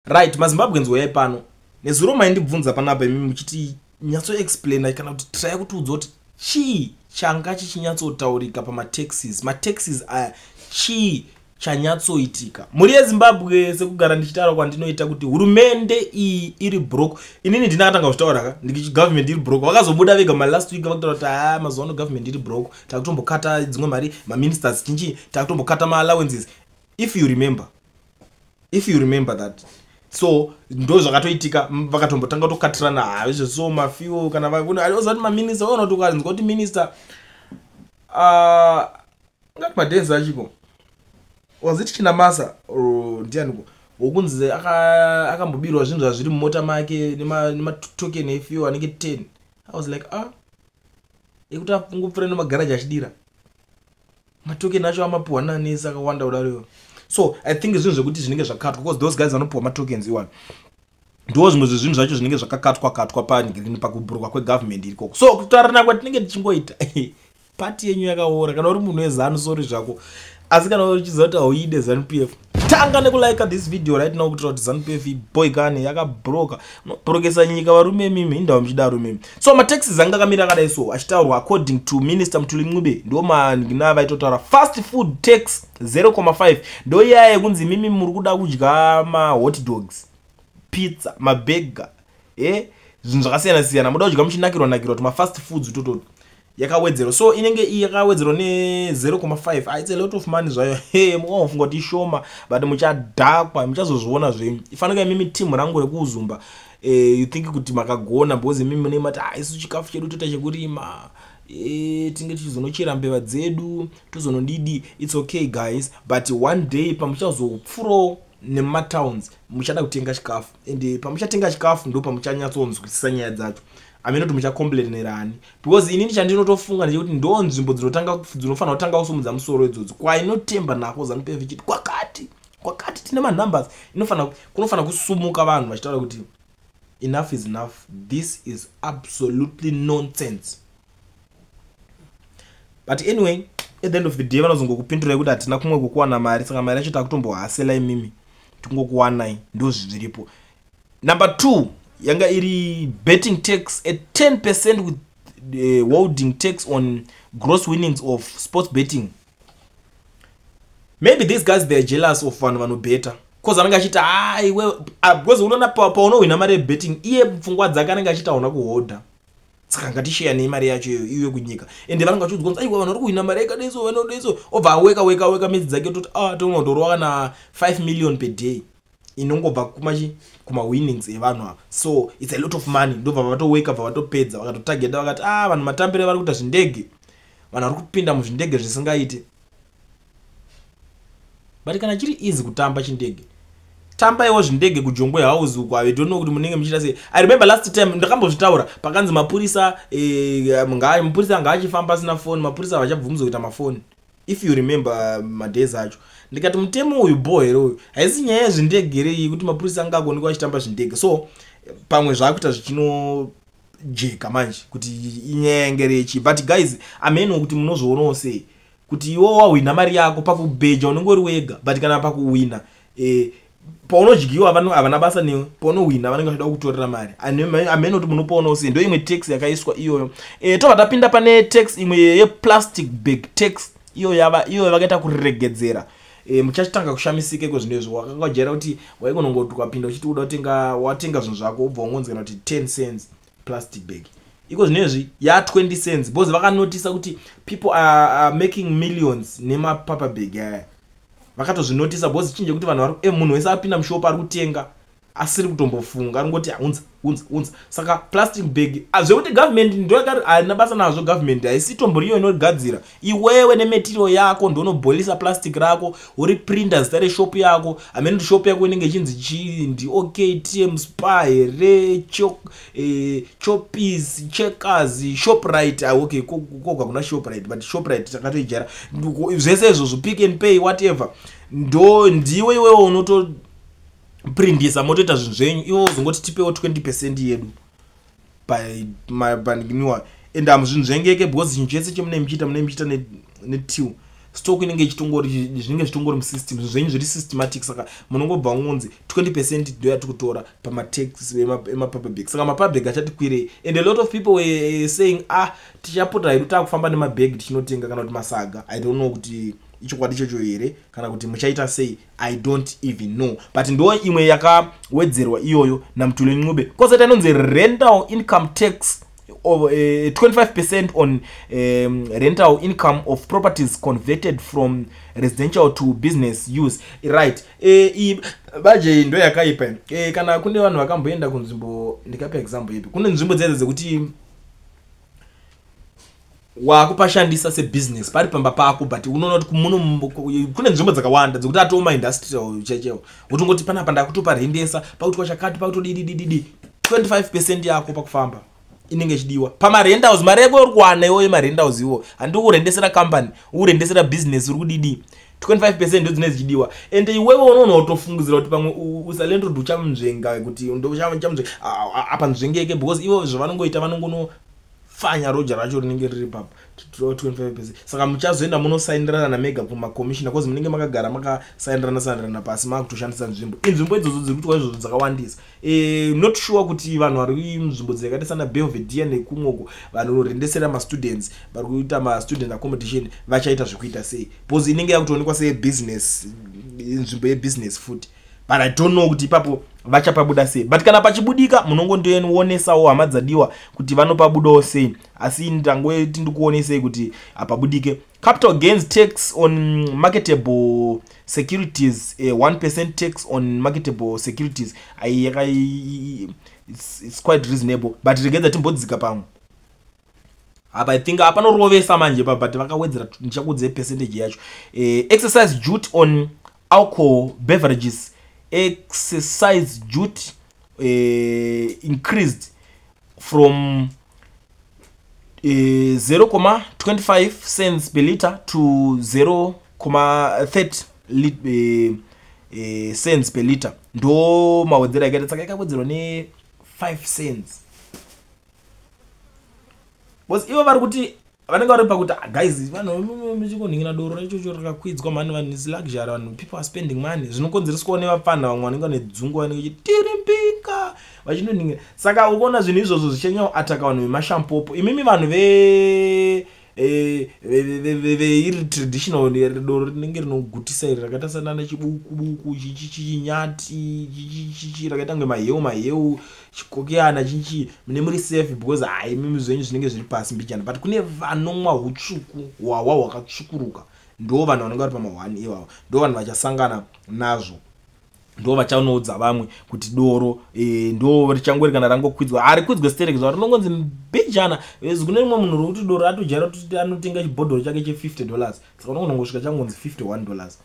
Right, maZimbabweans woyai pano. Nezuro maindibvunza panapa imi muchiti nyatso explainer kana kuti traya kuti udza kuti chii changa chichinyatsotaurika pamataxis. Mataxis aya chii chanyatsoitika mhuri yezimbabwe sekugara ndichitaura kwandinoita kuti hurumende iyi iri brok inini ndina katanga kuzvitaura ka ndikiti government iri brok vakazobuda vega malast week vakutaura kuti haa ah, mazuva ano government iri brok takutombokata dzimwe mari maministers chinchii takutombokata maallowances if you remember if you remember that so ndo zvakatoitika vakatombotanga kutokatirana ha izvo so mafiwo kana vaozati maminista ona kuti ukanzwa kuti minista ngati madenzi achiko was it chinamasa or ndianiko wokunzi akambobirwa zvinhu zvazviri mumota make nematoken efiwo anenge ten i was like ah ekuti angopfura nemagaraji achidira matoken acho amapuhwa nani sakawanda kudaro so i think zvinhu zvekuti zvinenge zvakatwa because those guys vanopuhwa matokens iwani ndiwo zvimwe zvezvinhu zvacho zvinenge zvakakatwa katwa pangrini pakubhurwa kwegovernment irikoko so kutaurana kwatinenge tichingoita pati yenyu yakaora kana uri munhu wezanu sori zvako asi kana uchiziva kuti hauide zanupf tanga nekulike this video right now kutira kuti zanupf boy kani yakabroka unobrokesa nyika varume mimi indawo muchidaro mimi so mataxis anga akamira akadai so achitaurwa according to minister mutuli ncube ndo manhina vaitotaura fast food tax 0,5 ndo iyaya yekunzi mimi muri kuda kudya mahot dogs pizza mabega e eh, zvinhu zvakasiyana siyana muda kudya muchinakirwa nakirwa kuti mafast foods utototi yakawedzerwa so inenge iyi yakawedzerwa ne0,5 ah, its a lot of money zvayo he mukaofunga kuti ishoma but muchadhakwa muchazozviona zvenyu ifanika imimi team rangu rekuuzumba eh, you think kuti makagona because imimi mune mati ah, isu chikafu chedu toita chekurima eh, tinge tichizonochera mbeva dzedu tozonodidi its okay guys but one day pamuchazopfurawo nematowns muchada kutenga chikafu ende pamuchatenga chikafu ndo pamuchanyatsonzwisisa nyaya dzacho amene kuti muchakomblenerani because inini chandinotofunga ndechekuti ndo nzvimbo dzinotanga dzinofanira kutanga kusumudza musoro idzodzi kwainotemba nako zanupf ichiti kwakati kwakati tine manumbers inofanira kunofanira kusumuka vanhu vachitaura kuti enough is enough this is absolutely nonsense but anyway at the end of the day vanozongokupindurai kuti hatina kumwe kukuwana mari saka mari yacho takutombohasela imimi tikungokuwanai ndo zviripo number two yanga iri betting tax at 10 percent with the eh, holding tax on gross winnings of sports betting maybe these guys theyare jealous of vanhu vanobeta bcause anenge achiti aiwe ah, ah, because unoona paunohwina mari yebetting iye pfungwa dzake anenge achiti hauna kuhodha saka ngatisheyanei mari yacho iyoyo iwe kunyika ende vanenge vachiudzwa kunzi aiwa vanhu vari kuhwina mari yakadeso vanodeso obva aweka weka weka midzi dzake toti a ah, tonotorwa kana 5 million per day inongobva kumachi kumawinnings evanhu ava so its a lot of money ndobva vatoweka bva vatopedza vakatotageta vakati a ah, vanhu matambire vari kuita zvindege vanhu vari kupinda muzvindege zvisingaiti but kana chiri easy kutamba chindege tambaiwo zvindege kujongwe house uko i don't know kuti munenge muchiita sei i remember last time ndakambozvitaura pakanzi mapurisa eh, mapurisa anga achifamba asina foni mapurisa havachabvumidza kuita mafoni if you remember uh, madays acho ndikati mutemo uyu bho here uyu haisi nyaya yezvindege here iyi kuti mapurisa anga agonekwa achitamba zvindege so pamwe zvaakuita zvichino jeka manje kuti inyaya yange rechi but guys ameno kuti munozvionawo sei kuti iwo wahwina mari yako pakubheja unenge uri wega but kana pakuhwina eh, paunodyiwa vanhu havana basa newe paunohwina vanenge vachida kutorera mari amene kuti munopaona usi ndo imwe tax yakaiswa iyoyo e, tobva tapinda pane tax imwe yeplastic bag tax iyo yava iyo vakaita kuregedzera e, muchachitanga kushamisika iko zvinhu izvo wakangajera kuti waikonongotukapinda uchiti uda kutenga watenga zvinhu zvako ubva wangonzikana kuti 10 cents plastic bag iko zvinezvi ya 20 cents because vakanotisa kuti people are, are making millions nemapaper bag aya vakatozvinotisa because chichinje kuti vanhu vari e munhu wese apinda mushopa ari kutenga asiri kutombofunga aringoti haunza unza unza saka plastic bag ah, zvekuti government ndoyakari haina basa nazvo government haisitomboriyo inogadzira iwewe nemetirial yako ndonoboilisa plastic rako uri printer zita reshop yako amene kuti shop yako inenge ichinzi chii ndi ok tm spa here eh, chopis checkers shoprite ah, ok koga kuna shoprite but shoprite takatoijara zvese izvozvo pick and pay whatever ndo ndiwe iwewe unotoprindisa motoita zvinhu zvenyu iwe uzongoti tipewo 20 percent yedu papandikinwa and hamuzvinzvengeke because chinhu chese chemunei muchiita munei muchiita netil stock inenge ichitongori zvinenge zvitongori musystem zvinhu zvenyu zviri systematic saka munongobva ngonzi 20 percent ndoya tikutora pamatex emapaperbag saka mapaperbag achati kwirei and a lot of people were saying ah tichapota hedu takufamba nemabag tichinotenga kana kuti masaga i don't know kuti ichokwadi ichocho here kana kuti muchaita sei i don't even know but ndo imwe yakawedzerwa iyoyo namutule ncube kozoita inonzi rental income tax of uh, eh, 25 percent on um, rental income of properties converted from residential to business use right eh, baje ndo yakaipa eh, kana kune vanhu vakamboenda kunzvimbo ndikapa example ipi kune nzvimbo dzedze dzekuti wakupashandisa sebusiness pari pamba pako but unoona kuti kumuno kune nzvimbo dzakawanda dzekuti atoo maindustrial chechewo wotongoti panapa ndakutopa rendesa pakutwa chakati pakutodididididi 25 percent yako pakufamba inenge ichidiwa pamarendals mari yako uri kuwana iwoyo marendals iwo handi kurendesera company urendesera business uri kudidi 25 percent ndo dzine dzichidiwa and iwewe unoona utofungidzira kuti pamwe usalendrod uchamuzvenga kuti uchamuzvenga apa nzvengeke because ivo zvavanongoita vanongono fanya roja racho rinenge riri papa 25 saka muchazoenda munosainirana namega kumakomishina bcause munenge makagara makasainirana sainirana pasi makutoshandisa nzvimbo inzvimbo idzodzo dziri kutwa izvozvo dzakawandisa eh, not sure kuti vanhu vari nzvimbo dzakaita sana belvedia nekumwoko vanorendesera mastudents vari kuita mastudent accommodation vachaita zvekuita sei bcause inenge yakutoonekwa seyebusiness nzvimbo yebusiness futi but i don't know kuti ipapo vachapabuda sei but kana pachibudika munongondoeonesawo hama dzadiwa kuti vanopabudawo sei asi ndangoiti ndikuonesei kuti hapabudike capital gains tax on marketable securities eh, 1 percent tax on marketable securities ai it's, it's quite reasonable but regedza timbodzika pamwe apa i think apa norovesa manje pa but vakawedzera ndichakudzei percentage yacho eh, exercise duty on alcohol beverages exercise duty eh, increased from eh, 0,25 cents per liter to 0,30 lit, eh, eh, cents per liter ndo mawedzera akaita saka ikawedzerwa ne 5 cents bcause ivo vari kuti vanenge vari pakuti ah, guys vanhu mechikonhingira doro raichocho rakakwidzwa mani vanhu is luxury vanhu people are spending money zvinokonzereswawo nevapfanha vamwe vanenge vane dzungu vanenge chiti tiri mbinga vachinonhingira saka ukuona zvinhu izvozvo zvichanyawo ataka vanhu vemashampopo imimi vanhu ve eh, veiri traditional doro rinenge rinogutisa iri rakaita sanana chibukubuku chichinyati chichichichi rakaita kunge maheu maheu chikokeyana chichi mune muri safe because hai mimi zvenyu zvinenge zviri pasi mbichana but kune vanomwa utsvuku hwahwa hwakatsvukuruka ndo vanhu vanenge vari pamahwani iwawa ndo vanhu vachasangana nazvo ndo vachanoudza vamwe kuti doro e, ndo richangori kana rangokwidzwa ari kwidzwe sterek zva rinongonzi mbijana eh, kune rimwe munhu rokuti doro atojara kuti anotenga chibhodhoro chake che 50 dollars saka unongonongosvika changonzi 51 dollars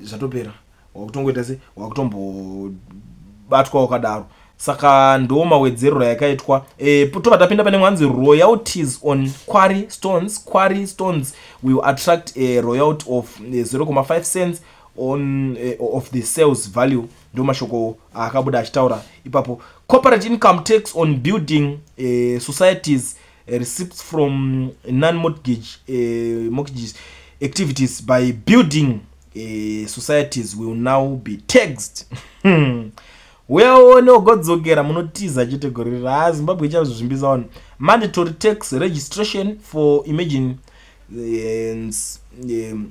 zvatopera wakutongoita se wakutombobatwa wakadaro saka ndo mawedzerero yakaitwa e, tobva tapinda pane mwanzi royalties on quary stones quary stones will attract a royalty of 0,5 cents on uh, of the sales value ndo mashoko aakabuda achitaura ipapo corporate income tax on building uh, societies uh, receipts from non-mortgage uh, mortgages activities by building uh, societies will now be taxed hmm. weone ugodzokera munotiza chete gore riri haa zimbabwe ichazvizvimbisa wani mandatory tax registration for imagine uh, um,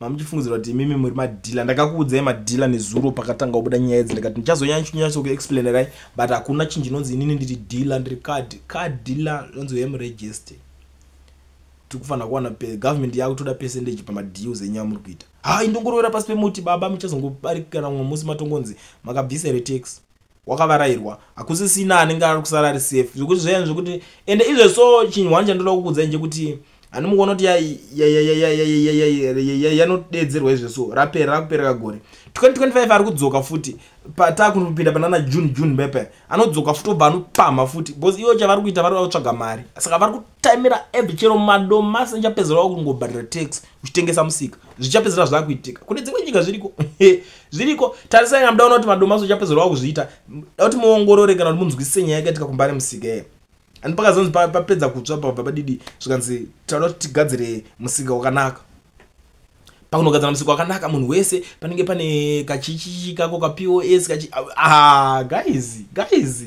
mamuchifungidzira kuti imimi muri madhila ndakakuudzai madhila nezuro pakatanga kubuda nyaya idzi ndikati ndichazonyanyanyatso kuexplainerai but hakuna chinhu chinonzi inini ndiri dhila ndiri card card dhila inonzi hem register tiri kufanira kuwana pe government yakutoda percentage pamadeals enyaya muri kuita ha indongorovera pasi pemuti baba muchazongobarikana mumwe musi matongonzi makabvisa retax wakavarairwa hakusisina anenge ari kusara ari safe zvekuti zvayan zvekuti ende izve so chinhu hwani chandoda kukuudzai nchekuti handimukuona kuti yanodeedzerwa izve so rapera rakupereka gore 2025 ari kudzoka futi patakunopinda panana june june bepe anodzoka futi obva anopamha futi bcause ivo chavari kuita vari vakutsvaga mari saka vari taimira eb chero madomasi ndichapedzerawo kungobhadhira tax uchitengesa musika zvichapedzera zvakuitika kune dzimwe nyika zviriko zviriko tarisai kana mudaona kuti madomasi uchapedzerawo kuzviita dauti muongorore kana kuti munzwisise nyaya yakaitika kumbare musika e and pakazonzi papedza kutsva pabva padidi zvikanzi tauda kuti tigadzire musika wakanaka pakunogadzira musika wakanaka munhu wese panenge pane kachichichi kako kapos kachi ah, guys guys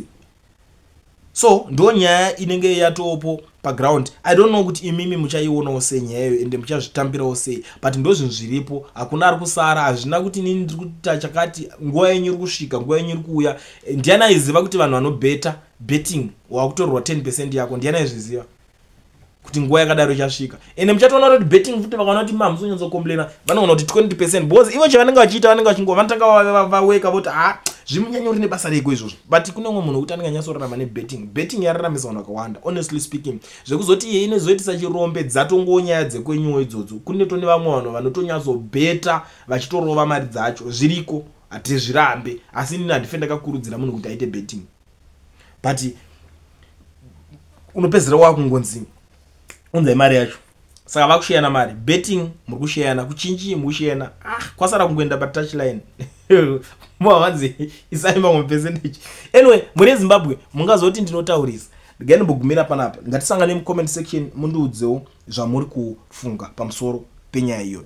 so ndo nyaya inenge yatopo paground i don't know kuti imimi muchaionawo sei nyaya iyo ende muchazvitambirawo sei but ndo zvinhu zviripo hakuna ari kusara hazvina kuti nini ndiri kuita chakati nguva yenyu iri kusvika nguva yenyu iri kuuya eh, ndiani aiziva kuti vanhu vanobeta betting wakutorwa 10 percent yako ndiani aizviziva kuti nguva yakadaro ichasvika ende muchatoona kuti betting futi vakaona kuti mamusi onyatsokomplena vanoona kuti 20 percent because ivo chavanenge vachiita vanenge vachingova vanotanga vaweka voti ha ah, zvimunyanya uri nebasa reko izvozvo but kune umwe munhu wekuti anenge anyatsorarama nebetting betting yararamisa vanhu vakawanda honestly speaking zvekuzoti iye inozoitisa chirombe dzatongowo nyaya dzekwenyuwo idzodzo kune tone vamwe vanhu vanotonyatsobeta vachitorova mari dzacho zviriko hatizvirambe asi inini handife ndakakurudzira munhu kuti aite betting but unopedzera wakungonzi unzai mari yacho saka vakusheyana mari betting muri kusheyana kuchinji muri kusheyana ah kwasara kungoenda patouchline mwavanzi isai mamwe percentage anyway muri ezimbabwe mungazoti ndinotaurisa regai ndimbogumira panapa ngatisangane mucomment section mundiudzewo zvamuri kufunga pamusoro penyaya iyoyo